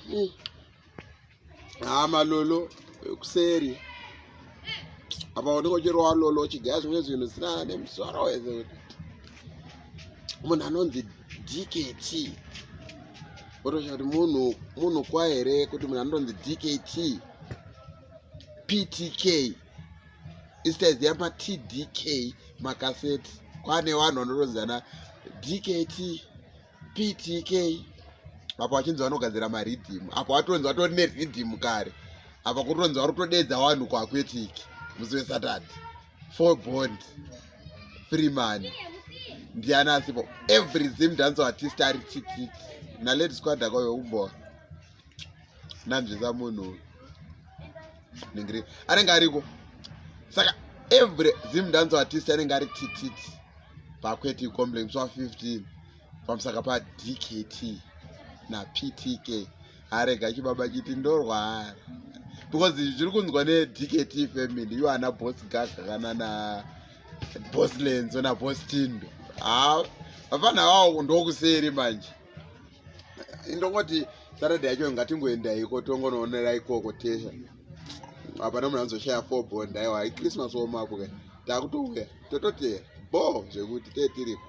mm. haa ah, malolo kuseri apa unenge uchirowa lolo uchigaya zvimwe zvinhu zvisina nemusoro wese kuti munhu anonzi dkt otosha kuti munhu munhu kwa here kuti munhu anonzi dkt ptk isitaiziva matdk makaseti kwane vanhu vanotonzana dkt ptk apo achinzi vanogadzira maridhimu apo atonzi vatori neridhimu kare apa kutonzi vari kutodeedza vanhu kuaquetic musi wesatad four bond free money ndiani asipo every zim dance artist ari tititi nalady squad akauyo umboa ndanzvisa munhu ningiri anenge ariko saka every zim dance artist anenge ari tititi pakweti complain swa 15 pamusaka pa dkt na ptk arega chibaba chiti ndorwara because zviri kunzwa ne dkt family iwo ana bos gaga kana na bos lenzo na bos tindo haa vafana vawo ndokuseri manje ndongoti saturday yacho ngatingoendaiko tongonoonera ikoko tesha hapana munhu anozoshaya four bond aiwa hai christmas womapo ka takutouya tototera bo zvekuti tee tiriko